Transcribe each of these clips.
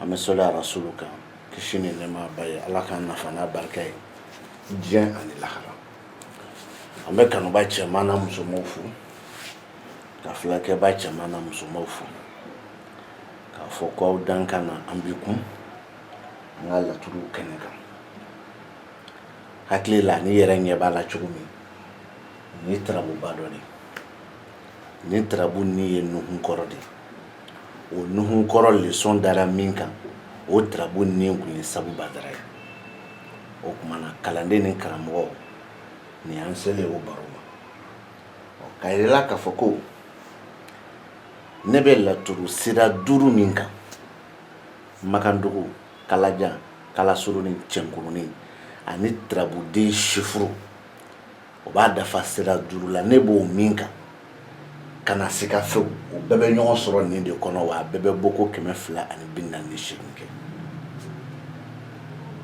an bɛ soli a rasulu kan kisi ni nɛma b'a ye ala k'an nafa n'a barika ye diɲɛ ani lahara an bɛ kanubaa cɛman n'a musomanw fo ka filɛlikɛbaa cɛman n'a musomanw fo k'a fɔ ko aw dan ka na an b'i kun an ka laturu kɛnɛ kan hakili la n'i yɛrɛ ɲɛ b'a la cogo min ni tarabuba dɔ de ni tarabu nin ye nuhun kɔrɔ de o nuhun kɔrɔ leçon dara min kan o tarabu nin kun ye sabu badara ye o tuma na kalanden ni karamɔgɔ nin an selen o baro ma k'a yir'i la k'a fɔ ko ne bɛ laturu sira duuru min kan makandugu kalajan kalasurunin cɛnkurunin ani tarabuden sifuru o b'a dafa sira duuru la ne b'o min kan ka na se ka fɛ o bɛɛ bɛ ɲɔgɔn sɔrɔ nin de kɔnɔ wa a bɛɛ bɛ bɔ ko kɛmɛ fila ani bi naani ni seegin kɛ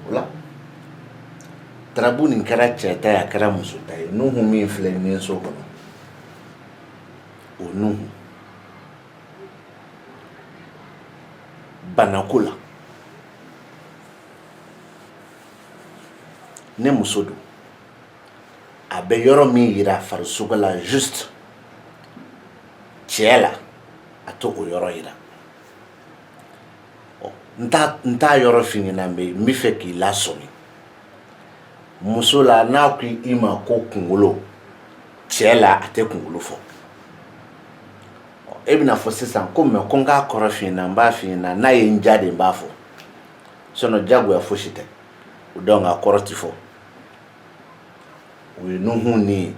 o la tarabu nin kɛra cɛ ta ye a kɛra muso ta ye nuhu min filɛ nin so kɔnɔ o nuhu banako la ni muso don a bɛ yɔrɔ min jira farisogo la juste cɛ la a tɛ o yɔrɔ jira n t'a yɔrɔ f'i ɲɛna n bɛ min fɛ k'i lasɔmi muso la n'a ko i ma ko kunkolo cɛ la a tɛ kunkolo fɔ e bɛna fɔ sisan ko mais ko n k'a kɔrɔ f'i ɲɛna n b'a f'i ɲɛna n'a ye n diya de n b'a fɔ sinon jagoya foyi si tɛ o dɔn a kɔrɔ tɛ fɔ o ye nuhu nin ye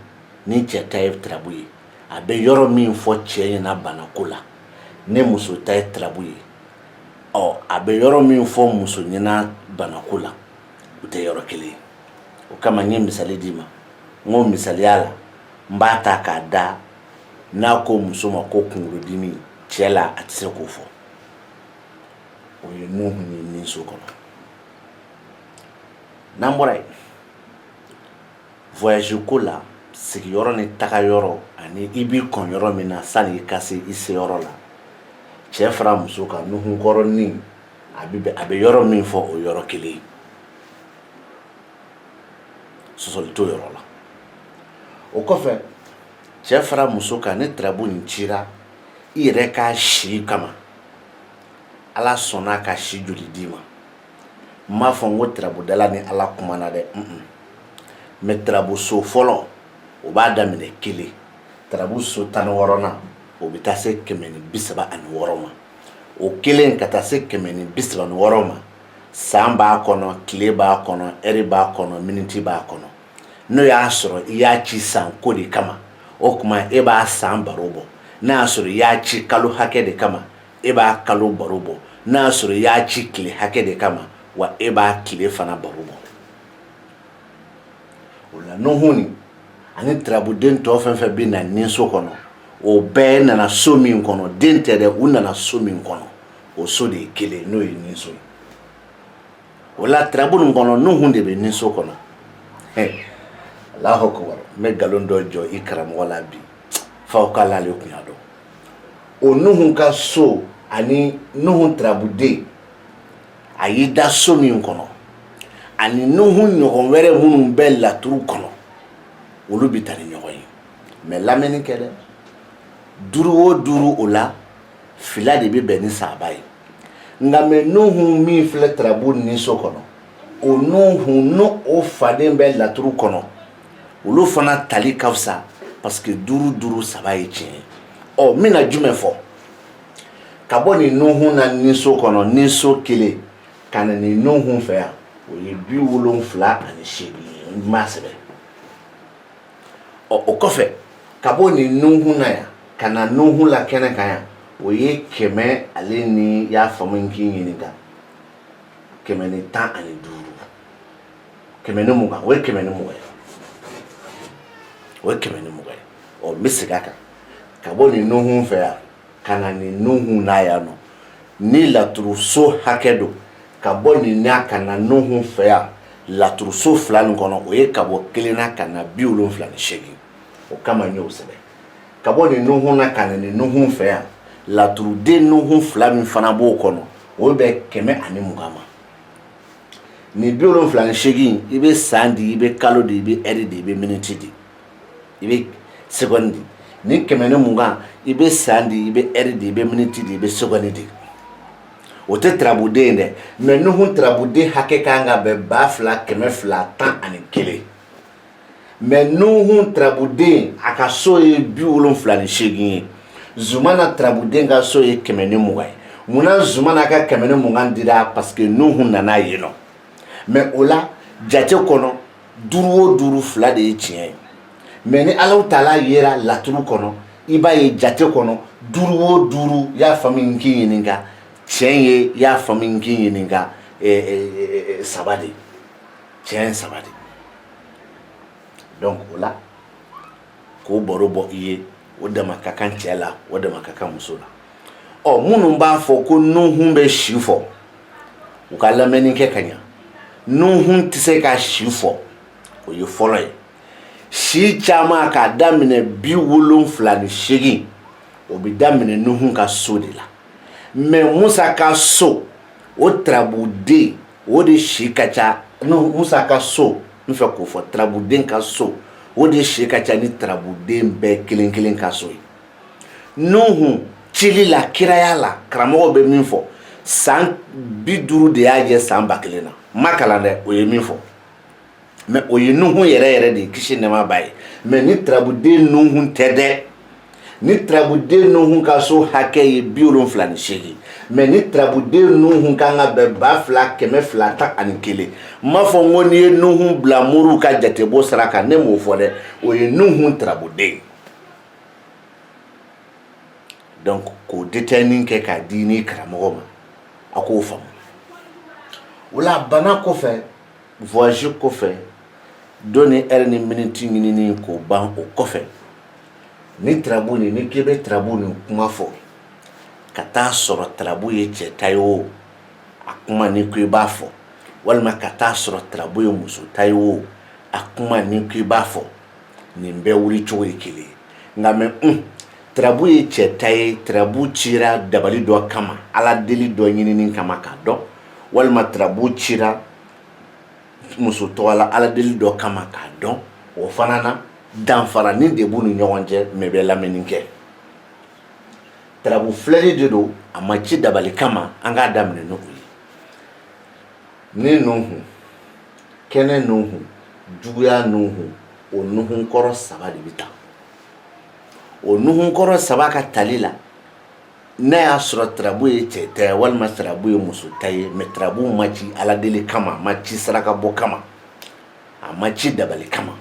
ni cɛ ta ye tarabu ye a bɛ yɔrɔ min fɔ cɛ ɲɛna banako la ni muso ta ye tarabu ye ɔ a bɛ yɔrɔ min fɔ muso ɲɛna banako la u tɛ yɔrɔ kelen ye o kama n ye misali d'i ma n ko misaliya la n b'a ta k'a da n'a ko muso ma ko kunkolodimi cɛ la a tɛ se k'o fɔ o ye nuhu ni nin so kɔnɔ n'an bɔra yen voyage ko la sigiyɔrɔ ni taga yɔrɔ ani i b'i kɔn yɔrɔ min na sani i ka se i se yɔrɔ la cɛ fara muso kan nuhunkɔrɔnin a bɛ a bɛ yɔrɔ min fɔ o yɔrɔ kelen sɔsɔli t'o yɔrɔ la o kɔfɛ cɛ fara muso kan ni tarabu nin cira i yɛrɛ ka si kama ala sɔnna ka si joli d'i ma n m'a fɔ n ko turabudala ni ala kumana dɛ mɛ turabuso fɔlɔ o b'a daminɛ kelen turabuso tan ni wɔɔrɔnan o bɛ taa se kɛmɛ ni bi saba ani wɔɔrɔ ma o kelen ka taa se kɛmɛ ni bi saba ni wɔɔrɔ ma san b'a kɔnɔ tile b'a kɔnɔ ɛri b'a kɔnɔ miniti b'a kɔnɔ n'o y'a sɔrɔ i y'a ci san ko de kama o tuma e b'a san baro bɔ n'a y'a sɔrɔ i y'a ci kalo hakɛ de kama e b'a kalo baro bɔ n'a y'a sɔrɔ i y'a ci tile hakɛ de kama wa e b'a tile fana baro bɔ o la nuhun ani turabuden tɔ fɛn fɛn bɛ na ni so kɔnɔ o bɛɛ nana so min kɔnɔ den tɛ dɛ u nana so min kɔnɔ o so de ye kelen n'o ye ni so ye o la turabu nin kɔnɔ nuhun de bɛ ni so kɔnɔ alahu akubar n bɛ nkalon dɔ jɔ i karamɔgɔ la bi f'aw k'a l'ale kun y'a dɔn o nuhun ka so ani nuhun turabuden a y'i da so min kɔnɔ ani nuhun ɲɔgɔn wɛrɛ minnu bɛ laturu kɔnɔ olu bɛ taa ni ɲɔgɔn ye mɛ lamɛnni kɛ dɛ duuru o duuru o la fila de bɛ bɛn ni saba ye nka mɛ nuhun min filɛ turabu ni so kɔnɔ o nuhun n'o o faden bɛ laturu kɔnɔ olu fana tali ka fisa parce que duuru duuru saba ye tiɲɛ ye ɔ n bɛna jumɛn fɔ ka bɔ nin nuhun na ni so kɔnɔ ni so kelen ka na nin nuhun fɛ yan o ye bi wolonfila ani seegin ye n m'a sɛbɛn ɔ o kɔfɛ ka bɔ nin nuhun na yan ka na nuhun la kɛnɛ kan yan o ye kɛmɛ ale n'i y'a faamu n k'i ɲininka kɛmɛ ni tan ani duuru kɛmɛ ni mugan o ye kɛmɛ ni mugan ye o ye kɛmɛ ni mugan ye ɔ n bɛ segin a kan ka bɔ nin nuhun fɛ yan ka na nin nuhun na yan nɔ ni laturuso hakɛ don ka bɔ nin na ka na nuhun fɛ yan laturuso fila nin kɔnɔ o ye ka bɔ kelen na ka na bi wolonfila ni seegin o kama n y'o sɛbɛn ka bɔ nin nuhun na ka na nin nuhun fɛ yan laturuden nuhun fila min fana b'o kɔnɔ o bɛ kɛmɛ ani mugan ma nin bi wolonfila ni seegin i bɛ san di i bɛ kalo di i bɛ ɛri di i bɛ miniti di i bɛ segɔndi di nin kɛmɛ ni mugan i bɛ san di i bɛ ɛri di i bɛ miniti di i bɛ segɔndi di o tɛ turabuden ye dɛ mɛ nuhun turabuden hakɛ ka kan ka bɛn ba fila kɛmɛ fila tan ani kelen mɛ nuhun turabuden a ka so ye bi wolonfila ni seegin ye zumana turabuden ka so ye kɛmɛ ni mugan ye munna zumana ka kɛmɛ ni mugan dira parce que nuhun nana yen nɔ mɛ o la jate kɔnɔ duuru o duuru fila de ye tiɲɛ ye mɛ ni alaw taala yera laturu kɔnɔ i b'a ye jate kɔnɔ duuru o duuru y'a faamu n k'i ɲininka tiɲɛ ye y'a faamu n k'i ɲininka eh, eh, eh, saba de tiɲɛ saba de donc o la k'o baro bɔ i ye o dama ka kan cɛ la o dama ka kan muso la ɔ minnu b'a fɔ ko nuhun bɛ si fɔ u ka lamɛnni kɛ ka ɲa nuhun tɛ se ka si fɔ o ye fɔlɔ ye si caman k'a daminɛ bi wolonfila ni seegin o bɛ daminɛ nuhun ka so de la mɛ musa ka so o turabuden o de si ka ca n musa ka so n fɛ k'o fɔ turabuden ka so o de si ka ca ni turabuden bɛɛ kelen kelen ka so ye nuhun cili la kiraya la karamɔgɔw bɛ min fɔ san bi duuru de y'a jɛ san ba kelen na ma kalan dɛ o ye min fɔ mɛ o ye nuhun yɛrɛ yɛrɛ de ye kisi nɛɛma b'a ye mɛ ni turabuden nuhun tɛ dɛ ni turabuden nuhun ka so hakɛ ye bi wolonfila ni seegin mɛ ni turabuden nuhun kan ka bɛn ba fila kɛmɛ fila tan ani kelen n m'a fɔ n ko n'i ye nuhun bila moriw ka jatebɔ sira kan ne m'o fɔ dɛ o ye nuhun turabuden donc k'o detɛni kɛ k'a di ni karamɔgɔ ma a k'o faamu o la bana kɔfɛ Voilà kɔfɛ don ni e ni miniti ɲini k'o ban o kɔfɛ ni turabu nin n'i k'i bɛ turabu nin kuma fɔ ka t'a sɔrɔ turabu ye cɛ ta ye o a kuma n'i ko i b'a fɔ walima ka t'a sɔrɔ turabu ye muso ta ye o a kuma n'i ko i b'a fɔ nin bɛɛ wuli cogo ye kelen nka mɛ turabu ye cɛ ta ye turabu cira dabali dɔ kama ala deli dɔ ɲini kama k'a dɔn walima turabu cira muso tɔgɔ la ala deli dɔ kama k'a dɔn o fana na danfaranin de b'u ni ɲɔgɔn cɛ mɛ bɛ na min kɛ turabu filɛli de don a ma ci dabali kama an k'a daminɛ n'o ye ni nuhun kɛnɛ nuhun juguya nuhun o nuhun kɔrɔ saba de bɛ taa o nuhun kɔrɔ saba ka tali la n'a y'a sɔrɔ tarabu ye cɛ ta walima tarabu ye muso ta ye mɛ tarabu ma ci ala deli kama a ma ci saraka bɔ kama a ma ci dabali kama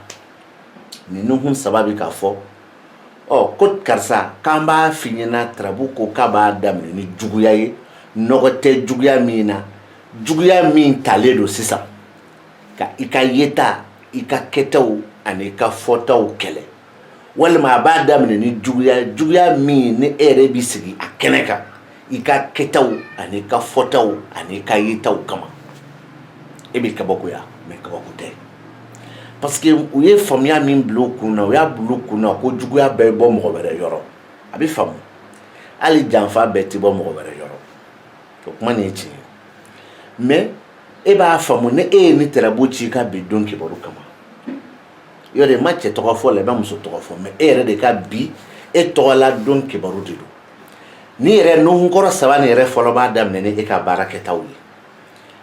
nin nuhun saba bɛ k'a fɔ ɔ ko karisa k'an b'a f'i ɲɛna tarabu ko k'a b'a daminɛ ni juguya ye nɔgɔ tɛ juguya min na juguya min talen don sisan ka i ka yeta i ka kɛtaw ani i ka fɔtaw kɛlɛ walima a b'a daminɛ ni juguya juguya min ni e yɛrɛ bɛ sigi a kɛnɛ kan i ka kɛtaw an'i ka fɔtaw an'i ka yetaw kama e bɛ kabakoya mɛ kabako tɛ parce que u ye faamuya min bila u kun na u y'a bila u kun na ko juguya bɛɛ bɔ mɔgɔ wɛrɛ yɔrɔ a bɛ faamu hali janfa bɛɛ tɛ bɔ mɔgɔ wɛrɛ yɔrɔ o kuma nin ye tiɲɛ ye mɛ e b'a faamu ni e ye nin tarabu ci i ka bi don kibaru kama yɔrɔ i ma cɛ tɔgɔ fɔ la i ma muso tɔgɔ fɔ mɛ e yɛrɛ de ka bi e tɔgɔla don kibaru de don nin yɛrɛ nuhunkɔrɔ saba nin yɛrɛ fɔlɔ b'a daminɛ ni e ka baara kɛtaw ye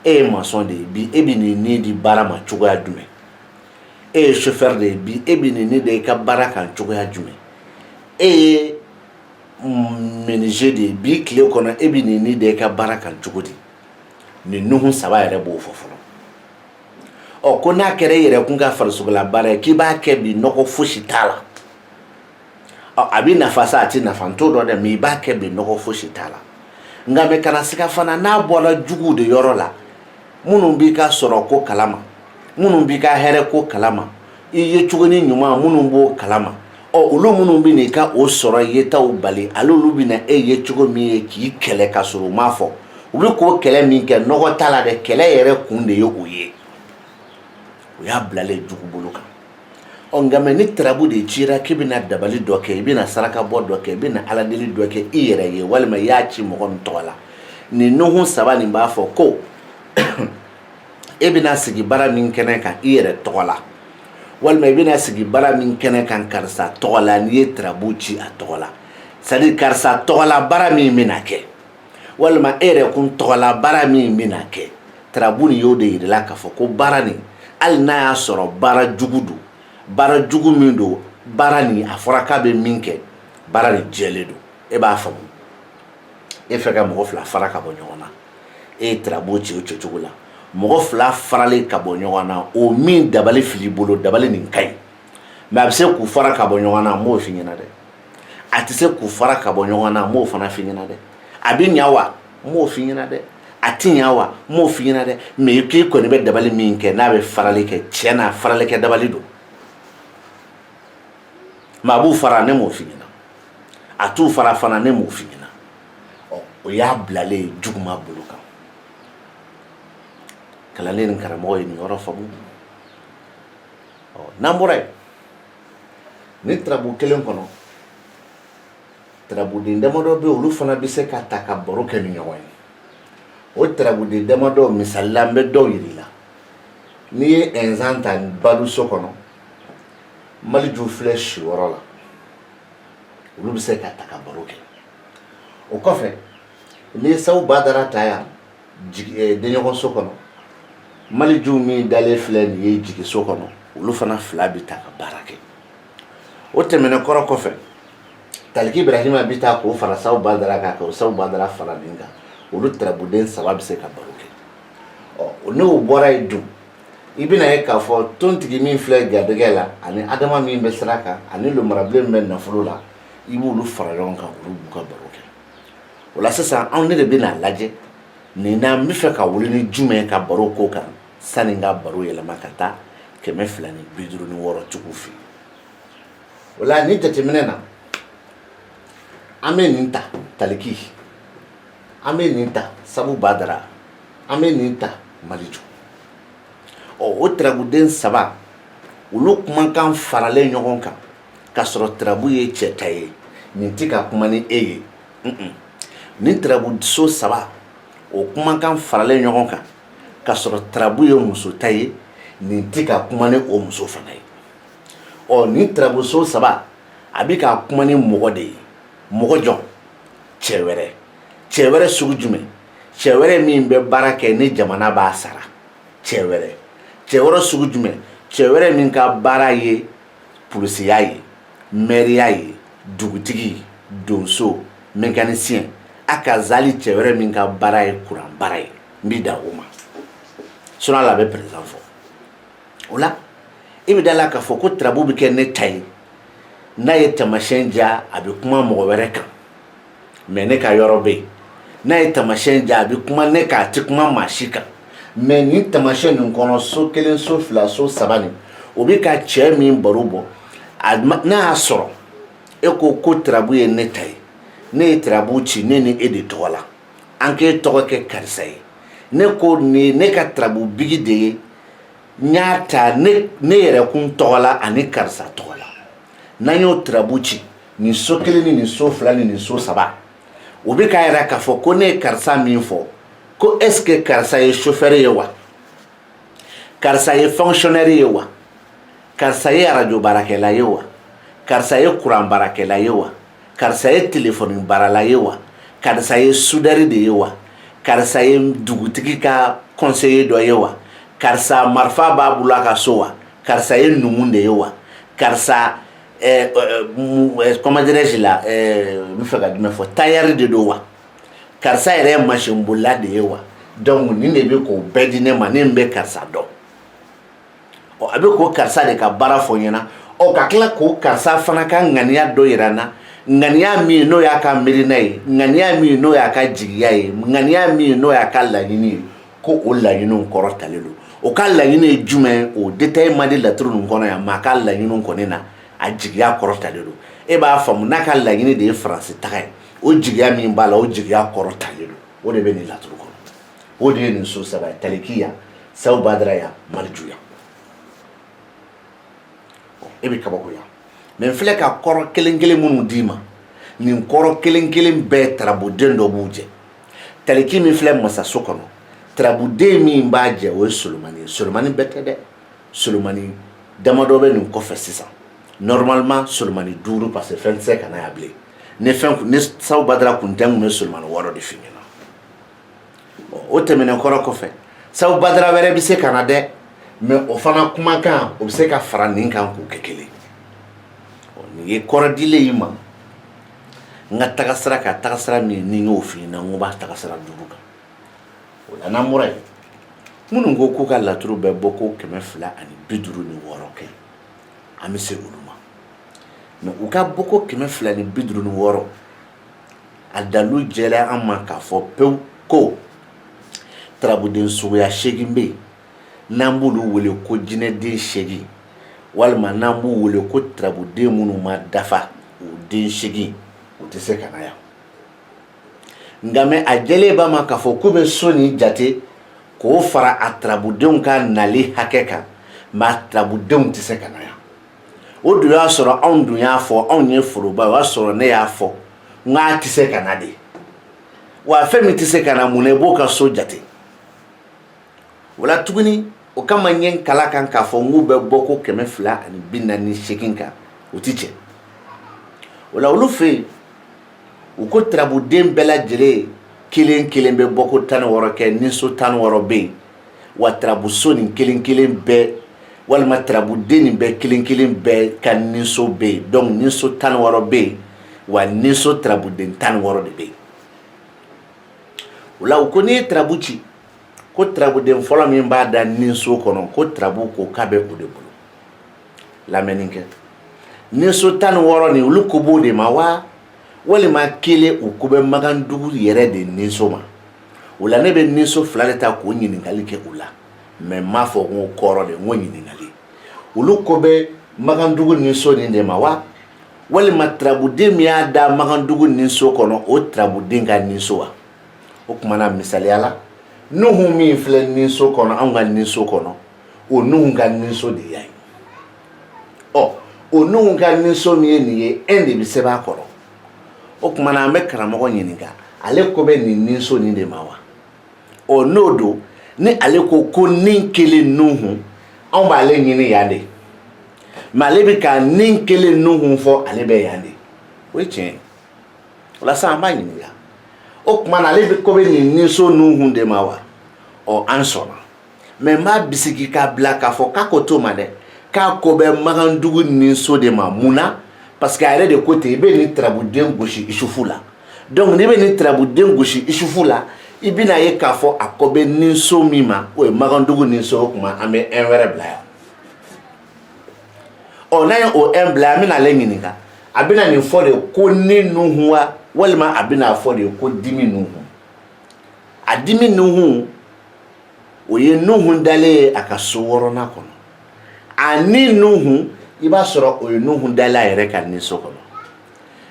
e ye masɔn de ye bi e bɛ nin ni di baara ma cogoya jumɛn e ye sofɛri de ye bi e bɛ nin ni de i ka baara kan cogoya jumɛn e ye menize de ye bi tile kɔnɔ e bɛ nin ni de i ka baara kan cogo di nin nuhun saba yɛrɛ b'o fɔ fɔlɔ ɔ ko n'a kɛra e yɛrɛ kun ka farisogola baara ye k'i b'a kɛ bi nɔgɔ fosi t'a la ɔ a bɛ nafa sa a tɛ nafa n t'o dɔn dɛ mɛ i b'a kɛ bi nɔgɔ fosi t'a la nka mɛ kana siga fana n'a bɔra juguw de yɔrɔ la minnu b'i ka sɔrɔ ko kalama minnu b'i ka hɛrɛ ko kalama i ye cogo ni ɲuman minnu b'o kala ma ɔ olu minnu bɛna i ka o sɔrɔ i yetaw bali ale olu bɛna e ye cogo min ye k'i kɛlɛ ka sɔrɔ u m'a fɔ u bɛ k'o kɛlɛ min kɛ nɔgɔ t'a la dɛ kɛlɛ yɛrɛ kun de ye o ye o y'a bilalen jugu bolo kan ɔ nka mɛ ni tarabu de cira k'i bɛna dabali dɔ kɛ i bɛna saraka bɔ dɔ kɛ i bɛna ala deli dɔ kɛ i yɛrɛ ye walima i y'a ci mɔgɔ min tɔgɔ la nin nuhun saba nin b'a fɔ ko e bɛna sigi baara min kɛnɛ kan i yɛrɛ tɔgɔ la walima i bɛna sigi baara min kɛnɛ kan karisa tɔgɔ la n'i ye tirabu ci a tɔgɔ la c'est-à-dire karisa tɔgɔla baara min bɛna kɛ walima e yɛrɛ kun tɔgɔla baara min bɛna kɛ tirabu nin y'o de yirila k'a fɔ ko baara nin hali n'a y'a sɔrɔ baara jugu don baara jugu min don baara nin a fɔra k'a bɛ min kɛ baara nin jɛlen don e b'a faamu e fɛ ka mɔgɔ fila fara ka bɔ ɲɔgɔn na e ye tirabu ci o cogo la mɔgɔ fila faralen ka bɔ ɲɔgɔn na o min dabali fil'i bolo dabali nin ka ɲi mɛ a bɛ se k'u fara ka bɔ ɲɔgɔn na n m'o f'i ɲɛna dɛ a tɛ se k'u fara ka bɔ ɲɔgɔn na n m'o fana f'i ɲɛna dɛ a bɛ ɲa wa n m'o f'i ɲɛna dɛ a tɛ ɲa wa n m'o f'i ɲɛna dɛ mɛ k'i kɔni bɛ dabali min kɛ n'a bɛ farali kɛ tiɲɛ na farali kɛ dabali don mɛ a b'u fara ne m'o fini na a t'u fara fana ne m'o fini na ɔ o y'a bilalen juguma bolo kan kalanden ni karamɔgɔ ye nin yɔrɔ faamu ɔ n'an bɔra yen ni tarabu kelen kɔnɔ tarabuden damadɔ bɛ olu fana bɛ se ka ta ka baro kɛ ni ɲɔgɔn ye o tarabuden damadɔ misalila n bɛ dɔw yiri la n'i ye ɛnzan ta balo so kɔnɔ maliju filɛ sigiyɔrɔ la olu bɛ se ka ta ka baro kɛ o kɔfɛ n'i ye sabu badara ta yan eh, denɲɔgɔnso kɔnɔ maliju min dalen filɛ nin ye jigiso kɔnɔ olu fana fila bɛ ta ka baro kɛ o tɛmɛnen kɔrɔ kɔfɛ taliki ibrahima bɛ ta k'o fara sabu badara kan ka o sabu badara fara nin kan olu tarabuden saba bɛ se ka baro kɛ ɔ n'o bɔra yen dun i bɛna ye k'a fɔ tontigi min filɛ garijɛgɛ la ani adama min bɛ sira kan ani lumarabilen min bɛ nafolo la i b'olu fara ɲɔgɔn kan olu b'u ka baro kɛ o la sisan anw ne de bɛna lajɛ nin na n b'a fɛ ka wuli ni jumɛn ka baro ko kan sani n ka baro yɛlɛma ka taa kɛmɛ fila ni bi duuru ni wɔɔrɔ tigiw fɛ o la nin jateminɛ na an bɛ nin ta taliki an bɛ nin ta sabu badara an bɛ nin ta maliju ɔ o tirabuden saba olu kumakan faralen ɲɔgɔn kan k'a sɔrɔ tirabu ye cɛ ta ye nin tɛ ka kuma ni e ye nin tirabuso saba o kumakan faralen ɲɔgɔn kan k'a sɔrɔ tirabu ye muso ta ye nin tɛ ka kuma ni o muso fana ye ɔ nin tirabuso saba a bɛ ka kuma ni mɔgɔ de ye mɔgɔ jɔn cɛ wɛrɛ cɛ wɛrɛ sugu jumɛn cɛ wɛrɛ min bɛ baara kɛ ni jamana b'a sara cɛ wɛrɛ cɛ wɛrɛ sugu jumɛn cɛ wɛrɛ min ka baara ye polisiya ye mɛriya ye dugutigi donso mɛkanisiyɛn a ka zali cɛ wɛrɛ min ka baara ye kuran baara ye n b'i da o ma sinɔn a la a bɛ perezidan fɔ o la i bɛ da la k'a fɔ ko tirabu bɛ kɛ ne ta ye n'a ye tamasiyɛn jira a bɛ kuma mɔgɔ wɛrɛ kan mɛ ne ka yɔrɔ bɛ yen n'a ye tamasiyɛn jira a bɛ kuma ne kan a tɛ kuma maa si kan mɛ ni tamasiyɛn nin kɔnɔ so kelen so fila so saba nin o bɛ ka cɛ min baro bɔ n'a y'a sɔrɔ e ko ko tirabu ye ne ta ye ne ye tirabu ci ne ni e de tɔgɔ la an k'e tɔgɔ kɛ karisa ye ne ko nin ne ka tirabu bigi de ye n y'a ta ne yɛrɛ kun tɔgɔ la ani karisa tɔgɔ la n'an y'o tarabu ci nin so kelen ni nin so fila ni nin so saba o bɛ k'a yira k'a fɔ ko ne ye karisa min fɔ ko est ce que karisa ye chauffeur ye wa karisa ye fonctionnaire ye wa karisa ye arajo baarakɛla ye wa karisa ye kuran baarakɛla ye wa karisa ye telefɔni baarala ye wa karisa ye soudeur de ye wa karisa ye dugutigi ka conseiller dɔ ye wa karisa marifa b'a bolo a ka so wa karisa ye numu de ye wa karisa kɔnmajɛsi la n fɛ ka jumɛn fɔ tailleur de don wa karisa yɛrɛ ye masinbolila de ye wa donc nin de bɛ k'o bɛɛ di ne ma ne bɛ karisa dɔn ɔ a bɛ k'o karisa de ka baara fɔ ɲɛna ɔ ka tila k'o karisa fana ka ŋaniya dɔ yira n na ŋaniya min n'o y'a ka miirina ye ŋaniya min n'o y'a ka jigiya ye ŋaniya min n'o y'a ka laɲini ye ko o laɲini kɔrɔtalen don o ka laɲini ye jumɛn o détail ma di laturu ninnu kɔnɔ yan mɛ a ka laɲiniw kɔni na a jigiya kɔrɔtalen don e b'a faamu n'a ka laɲini de ye faransi taga ye o jigiya min b'a la o jigiya kɔrɔtalen don o de bɛ nin laturu kɔnɔ o de ye nin so saba ye talikiya saw badaraya malijuya e bɛ kabakoya mɛ n filɛ ka kɔrɔ kelen kelen minnu d'i ma nin kɔrɔ kelen kelen bɛɛ tarabuden dɔ b'u jɛ taliki min filɛ masaso kɔnɔ tarabuden min b'a jɛ o ye solomani ye solomani bɛɛ tɛ dɛ solomani damadɔ bɛ nin kɔfɛ sisan normalement solomani duuru parce que fɛn tɛ se ka na yan bilen ni fɛn ni saw badara kun tɛ n kun bɛ solomani wɔɔrɔ de f'i ɲɛna o tɛmɛnen kɔrɔ kɔfɛ sabu badara wɛrɛ bɛ se ka na dɛ mɛ o fana kumakan o bɛ se ka fara nin kan k'o kɛ kelen nin ye kɔrɔ dilen y'i ma n ka tagasira ka tagasira min ne y'o f'i ɲɛna n k'o b'a tagasira duuru kan o la n'an bɔra yen minnu ko k'u ka laturu bɛ bɔ ko kɛmɛ fila ani bi duuru ni wɔɔrɔ kɛ an bɛ se olu ma mɛ u ka bɔ ko kɛmɛ fila ni bi duuru ni wɔɔrɔ a dalilu jɛlen an ma k'a fɔ pewu ko tarabuden suguya seegin bɛ yen n'an b'olu wele ko jinɛden seegin walima n'an b'u wele ko tarabuden minnu ma dafa o den seegin u tɛ se ka na yan nka mɛ a jɛlen b'a ma k'a fɔ k'u bɛ so nin jate k'o fara a tarabudenw ka nali hakɛ kan mɛ tarabudenw tɛ se ka na yan o dun y'a sɔrɔ anw dun y'a fɔ anw ye foroba o y'a sɔrɔ ne y'a fɔ n k'a tɛ se ka na de wa fɛn min tɛ se ka na mun na i b'o ka so jate o la tuguni o kama n ye n kal'a kan k'a fɔ n k'u bɛ bɔ ko kɛmɛ fila ani bi naani ni seegin kan u ti jɛ o la olu fɛ yen u ko turabuden bɛɛ lajɛlen kelen kelen bɛ bɔ ko tan ni wɔɔrɔ kɛ niso tan ni wɔɔrɔ bɛ yen wa turabuso nin kelen kelen bɛɛ walima turabuden nin bɛɛ kelen kelen bɛɛ ka niso bɛ yen dɔnku niso tan ni wɔɔrɔ bɛ yen wa niso turabuden tan ni wɔɔrɔ de bɛ yen o la u ko n'i ye turabu ci ko turabuden fɔlɔ min b'a da niso kɔnɔ ko turabu ko k'a bɛ o de bolo lamɛnni kɛ niso tan ni wɔɔrɔ nin olu ko b'o de ma wa walima kelen u ko bɛ makandugu yɛrɛ de niso ma o la ne bɛ niso fila de ta k'o ɲininkali kɛ u la mɛ n m'a fɔ ko kɔrɔ de n ko ɲininkali olu ko bɛ makandugu niso nin de ma wa walima turabuden min y'a da makandugu niso kɔnɔ o turabuden ka niso wa o tuma na misaliya la nuhu min filɛ niso kɔnɔ anw ka niso kɔnɔ o nuhu ka niso de yan ɔ o nuhu ka niso min ye nin ye e de bɛ se b'a kɔrɔ o tuma na an bɛ karamɔgɔ ɲininka ale ko bɛ nin niso nin de ma wa ɔ n'o don ni ale ko ko ni kelen nuhu anw b'ale ɲini yan de mɛ ale bɛ ka ni kelen nuhu fɔ ale bɛ yan de o ye tiɲɛ ye o la sisan an b'a ɲininka o tuma na ale bɛ ko bɛ nin niso nuhu de ma wa ɔ an sɔnna mɛ n b'a bisigi k'a bila k'a fɔ k'a ko t'o ma dɛ k'a ko bɛ magandugu niso de ma mun na parce que a yɛrɛ de ko ten i bɛ nin turabuden gosi isufu la donc n'i bɛ nin turabuden gosi isufu la i bɛna ye k'a fɔ a ko bɛ niso min ma o ye magandugu niso o tuma an bɛ un wɛrɛ bila yan ɔ n'a ye o un bila an bɛna ale ɲininka a bɛna nin fɔ de ko ni nuhun wa walima a bɛna fɔ de ko dimi nuhun a dimi nuhun o ye nuhun dalen ye a ka so wɔɔrɔnan kɔnɔ a ni nuhun i b'a sɔrɔ o ye nuhun dalen a yɛrɛ ka niso kɔnɔ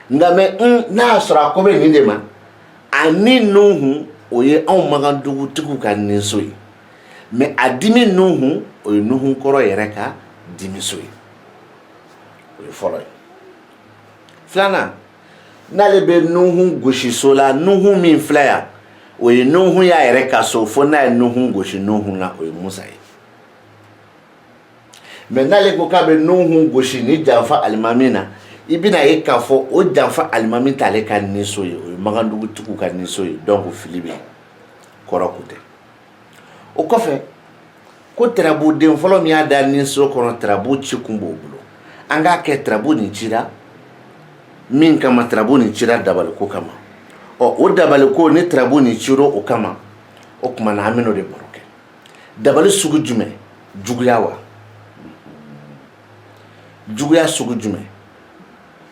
nka mɛ n n'a y'a sɔrɔ a ko bɛ nin de ma a ni nuhun o ye anw makandugu tigiw ka niso ye mɛ a dimi nuhun o ye nuhun kɔrɔ yɛrɛ ka dimiso ye o ye fɔlɔ ye filanan n'ale bɛ nuhun gosi so la nuhun min filɛ yan o ye nuhun y'a yɛrɛ ka so fo n'a ye nuhun gosi nuhun na o ye musa ye mɛ n'ale ko k'a bɛ nuhun gosi ni janfa alimami na i bɛna ye k'a fɔ o janfa alimami t'ale ka niso ye o ye magandugu tigiw ka niso ye dɔnku fili bɛ kɔrɔ ko tɛ o kɔfɛ ko tarabuden fɔlɔ min y'i da niso kɔnɔ tarabu ci kun b'o bolo an k'a kɛ tarabu nin cira min kama tarabu nin cira dabaliko kama ɔ o dabaliko ni tarabu nin cira o kama o tuma na an bɛ o de baro kɛ dabali sugu jumɛn juguya wa juguya sugu jumɛn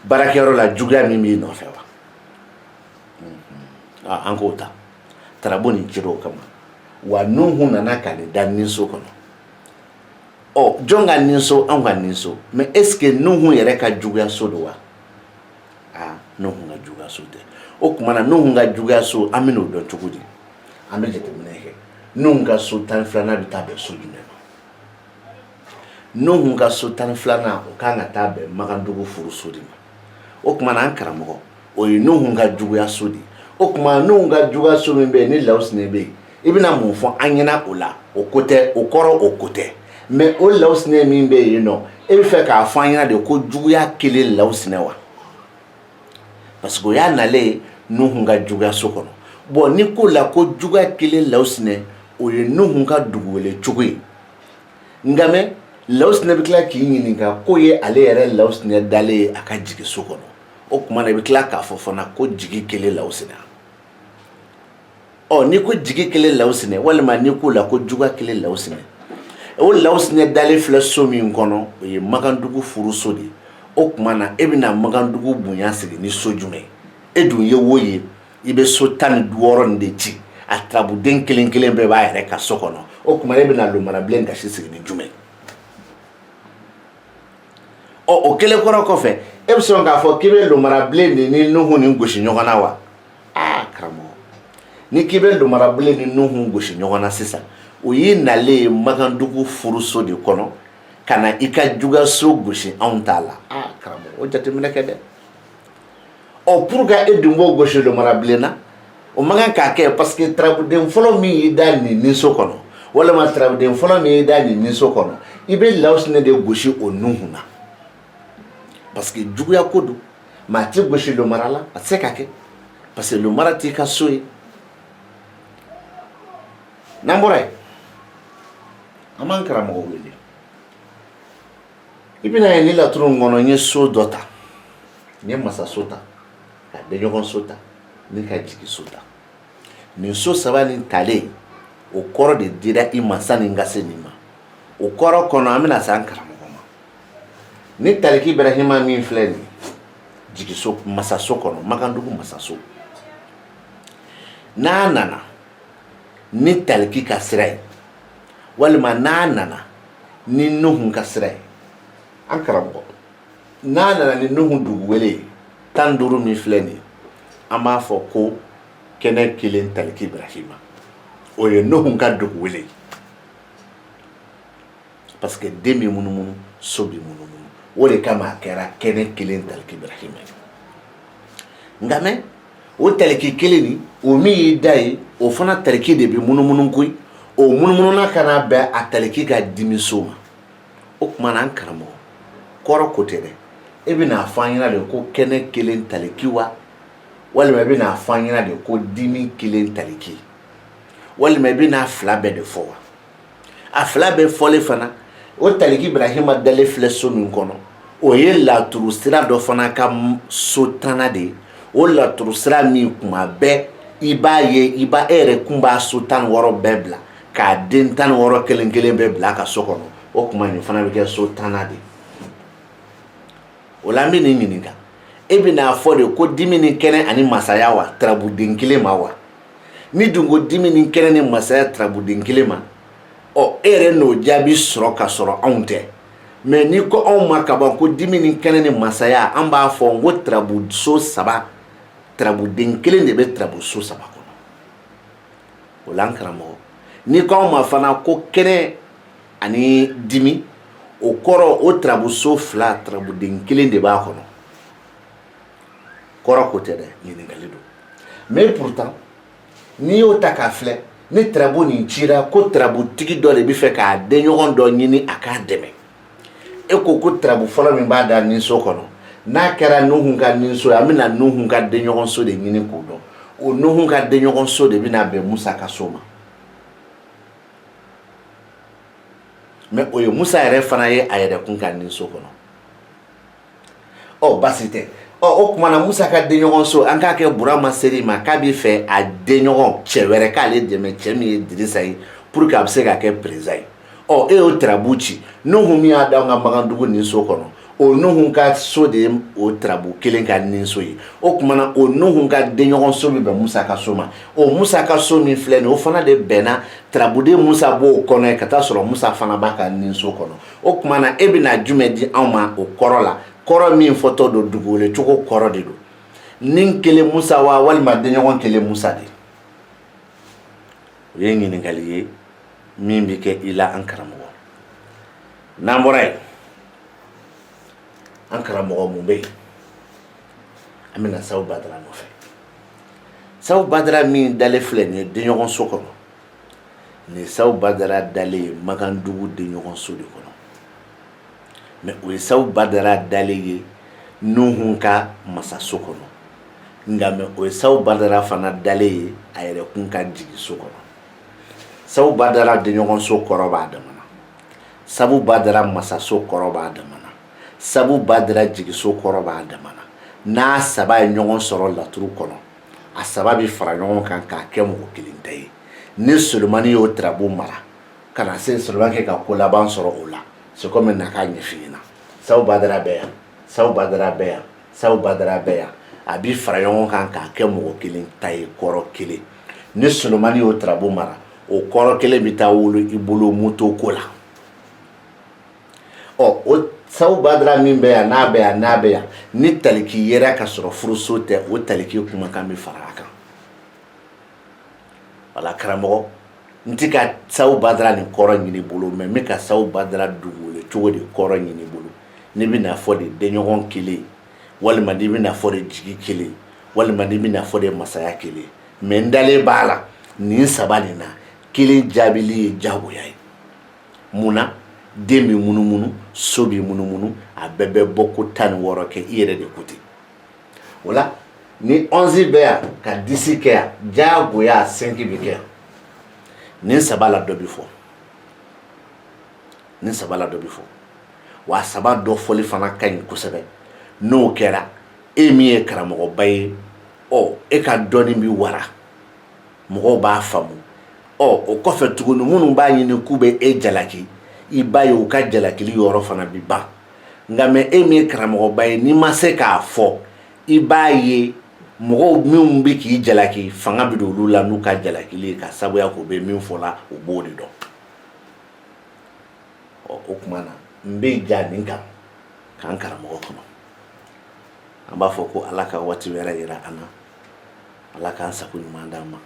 baarakɛyɔrɔ la juguya min b'i nɔfɛ wa an k'o ta tarabu nin cira o kama wa nuhun nana ka n'i da niso kɔnɔ ɔ jɔn ka niso anw ka niso mɛ eseke nuhun yɛrɛ ka juguyaso don wa aa nuhun ka juguyaso tɛ o tuma na nuhun ka juguyaso an bɛn'o dɔn cogo di an bɛ jateminɛ kɛ nuhun ka so tan filanan bɛ taa bɛn so jumɛn ma nuhun ka so tan filanan o ka kan ka taa bɛn makandugu furuso de ma o tuma an karamɔgɔ o ye nuhun ka juguyaso de o tuma nuhun ka juguyaso min bɛ yen ni lawusinɛ bɛ yen i bɛna mun fɔ an ɲɛna o la o ko tɛ o kɔrɔ o ko tɛ mɛ o lawusinɛ min bɛ yen nɔ e bɛ fɛ k'a fɔ an ɲɛna de ko juguya kelen lawusinɛ wa parce que o y'a nalen ye nuhun ka juguyaso kɔnɔ bɔn n'i k'o la ko juguya kelen lawusinɛ o ye nuhun ka dugu wele cogo ye nka mɛ lawusinɛ bɛ tila k'i ɲininka k'o ye ale yɛrɛ lawusinɛ dalen ye a ka jigiso kɔnɔ o tuma na i bɛ tila k'a fɔ fana ko jigi kelen lawusinɛ ɔ n'i ko jigi kelen lawusinɛ walima n'i k'o la ko juga kelen lawusinɛ o lawusinɛ dalen filɛ so min kɔnɔ o ye makandugu furuso de ye o tuma na e bɛna makandugu bonya sigi ni so jumɛn e dun ye wo ye i bɛ so tan ni wɔɔrɔ in de ci a tarabuden kelen kelen bɛɛ b'a yɛrɛ ka so kɔnɔ o tuma e bɛna lomara bilen gasi sigi ni jumɛn ɔ o kɛlen kɔrɔ kɔfɛ e bɛ sɔn k'a fɔ k'i bɛ lomara bilen de ni nuhu ni gosi ɲɔgɔn na wa aa karamɔgɔ n'i k'i bɛ lomara bilen ni nuhu gosi ɲɔgɔn na sisan o y'i nalen ye makandugu furuso de kɔnɔ ka na i ka jugaso gosi anw t'a la aa karamɔgɔ o jateminɛ kɛ dɛ ɔ pourquoi e dun b'o gosi lomara bilen na o man kan ka kɛ parce que tarabuden fɔlɔ min y'i da nin ninso kɔnɔ walima tarabuden fɔlɔ min y'i da nin ninso kɔnɔ i bɛ lawusinɛ de gosi o nuhun na parce que juguya ko don mɛ a tɛ gosi lomara la a tɛ se ka kɛ parce que lomara t'i ka so ye n'an bɔra yen an b'an karamɔgɔ wele i bɛna ye nin laturu in kɔnɔ n ye so dɔ ta n ye masa so ta ka denɲɔgɔn so ta ni ka jigi so ta nin so saba nin talen o kɔrɔ de dira i ma sani n ka se nin ma o kɔrɔ kɔnɔ an bɛna se an karamɔgɔ ma ni taliki ibrahima min filɛ nin ye masaso kɔnɔ makandugu masaso n'a nana ni taliki ka sira ye walima n'a nana ni nuhun ka sira ye an karamɔgɔ n'a nana ni nuhun dugu wele ye tan ni duuru min filɛ nin ye an b'a fɔ ko kɛnɛ kelen taliki ibrahima o ye nuhun ka dugu wele ye parce que den bɛ munumunu so bɛ munumunu o de kama a kɛra kɛnɛ kelen taliki ibrahima ye nka mɛ o taliki kelen nin o min y'i da ye o fana taliki de bɛ munumunu koyi o munumununa ka n'a bɛn a taliki ka dimiso ma o tuma na an karamɔgɔ kɔrɔ ko tɛ dɛ e bɛn'a fɔ an ɲɛna de ko kɛnɛ kelen taliki wa walima i bɛn'a fɔ an ɲɛna de ko dimi kelen taliki walima i bɛn'a fila bɛɛ de fɔ wa a fila bɛɛ fɔlen fana o taliki ibrahima dalen filɛ so min kɔnɔ o ye laturu sira dɔ fana ka so tanana de ye o laturu sira min kuma bɛɛ i b'a ye i ba e yɛrɛ kun b'a so tan wɔɔrɔ bɛɛ bila k'a den tan wɔɔrɔ kelen kelen bɛɛ bila ka so kɔnɔ o tuma nin fana bɛ kɛ so tanana de ye o la n bɛn'i ɲininka e bɛn'a fɔ de ko dimi ni kɛnɛ ani masaya wa tarabuden kelen ma wa n'i dun ko dimi ni kɛnɛ ni masaya tarabuden kelen ma ɔ e yɛrɛ n'o jaabi sɔrɔ ka sɔrɔ anw tɛ mɛ n'i ko anw ma ka ban ko dimi ni kɛnɛ ni masaya an b'a fɔ n ko tarabuso saba tarabuden kelen de bɛ tarabuso saba kɔnɔ o la an karamɔgɔ n'i ko anw ma fana ko kɛnɛ ani dimi o kɔrɔ o tarabuso fila tarabuden kelen de b'a kɔnɔ kɔrɔ ko tɛ dɛ ɲininkali don mais pourtant n'i y'o ta k'a filɛ ni tarabu nin cira ko tarabutigi dɔ de bɛ fɛ k'a denɲɔgɔn dɔ ɲini a k'a dɛmɛ e ko ko tarabu fɔlɔ min b'a da ninso kɔnɔ n'a kɛra nuhun ka ninso ye an bɛna nuhun ka denɲɔgɔnso de ɲini k'o dɔn o nuhun ka denɲɔgɔnso de bɛna bɛn musa ka so ma mɛ o ye musa yɛrɛ fana ye a yɛrɛ kun ka ninso kɔnɔ ɔ basi tɛ ɔ o tuma na musa ka denɲɔgɔn so an k'a kɛ burama seri ma k'a bɛ fɛ a denɲɔgɔn cɛ wɛrɛ k'ale dɛmɛ cɛ min ye dirisa ye pour que a bɛ se ka kɛ perezidan ye ɔ e y'o tarabu ci nuhu min y'a da an ka magandugu nin so kɔnɔ o nuhu ka so de ye o tarabu kelen ka nin so ye o tuma na o nuhu ka denɲɔgɔn so bɛ bɛn musa ka so ma o musa ka so min filɛ nin ye o fana de bɛnna tarabuden musa b'o kɔnɔ ye ka t'a sɔrɔ musa fana b'a ka nin so kɔnɔ o tuma na e bɛna jumɛn di anw ma o kɔrɔ la kɔrɔ min fɔtɔ don dugukolo cogo kɔrɔ de don ni kelen musa wa walima denɲɔgɔn kelen musa de o ye ɲininkali ye min bɛ kɛ i la an karamɔgɔ n'an bɔra yen an karamɔgɔ mun bɛ yen an bɛna sabu badara nɔfɛ sabu badara min dalen filɛ nin ye denɲɔgɔn so kɔnɔ nin sabu badara dalen ye makandugu denɲɔgɔn so de kɔnɔ mɛ o ye sabu badara dalen ye nuhun ka masaso kɔnɔ nka mɛ o ye sabu badara fana dalen ye a yɛrɛ kun ka jigiso kɔnɔ sabu badara denɲɔgɔn so kɔrɔ b'a dama na sabu badara masaso kɔrɔ b'a dama na sabu badara jigiso kɔrɔ b'a dama na n'a saba ye ɲɔgɔn sɔrɔ laturu kɔnɔ a saba bɛ fara ɲɔgɔn kan k'a kɛ mɔgɔ kelen ta ye ni solomani y'o tirabu mara ka na se solomani kɛ ka ko laban sɔrɔ o la se cogo min na k'a ɲɛfɔ i ɲɛna sabu badara bɛ yan sabu badara bɛ yan sabu badara bɛ yan a bɛ fara ɲɔgɔn kan k'a kɛ mɔgɔ kelen ta ye kɔrɔ kelen ni solomani y'o tirabu mara o kɔrɔ kelen bɛ taa wolo i bolo moto ko la ɔ o sabu badara min bɛ yan n'a bɛ yan n'a bɛ yan ni taliki yera ka sɔrɔ furuso tɛ o taliki kumakan bɛ fara a kan wala karamɔgɔ n ti ka sabu badara nin kɔrɔ ɲini bolo mɛ n bɛ ka sabu badara dugukolo cogo de kɔrɔ ɲini bolo n'i bɛ n'a fɔ de denɲɔgɔn kelen walima n'i bɛ n'a fɔ de jigi kelen walima n'i bɛ n'a fɔ de masaya kelen mɛ n dalen b'a la nin saba nin na kelen jaabili ye jagoya ye mun na den bɛ munumunu so bɛ munumunu a bɛɛ bɛ bɔ ko tan ni wɔɔrɔ kɛ i yɛrɛ de ko ten o la ni ɔnzi bɛ yan ka disi kɛ yan diyagoya a sɛnki bɛ kɛ yan nin saba la dɔ bɛ fɔ nin saba la dɔ bɛ fɔ wa saba dɔ fɔli fana ka ɲi kosɛbɛ n'o kɛra e min ye karamɔgɔba ye ɔ e ka dɔnni bɛ wara mɔgɔw b'a faamu ɔ o kɔfɛ tuguni minnu b'a ɲini k'u bɛ e jalaki i b'a ye u ka jalakili yɔrɔ fana bi ban nka mɛ e min ye karamɔgɔba ye n'i ma se k'a fɔ i b'a ye mɔgɔw minnu bɛ k'i jalaki fanga bɛ don olu la n'u ka jalakili ye ka sabuya k'u bɛ min fɔ la u b'o de dɔn ɔ o tuma na n bɛ jɔ nin kan k'an karamɔgɔ kɔnɔ an b'a fɔ ko ala ka waati wɛrɛ jira an na ala k'an sago ɲuman d'an ma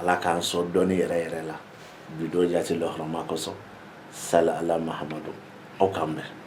ala k'an sɔn dɔnni yɛrɛ yɛrɛ la bi don jati lɔhɔrɔma kosɔn sala ala mahamadu aw k'an bɛn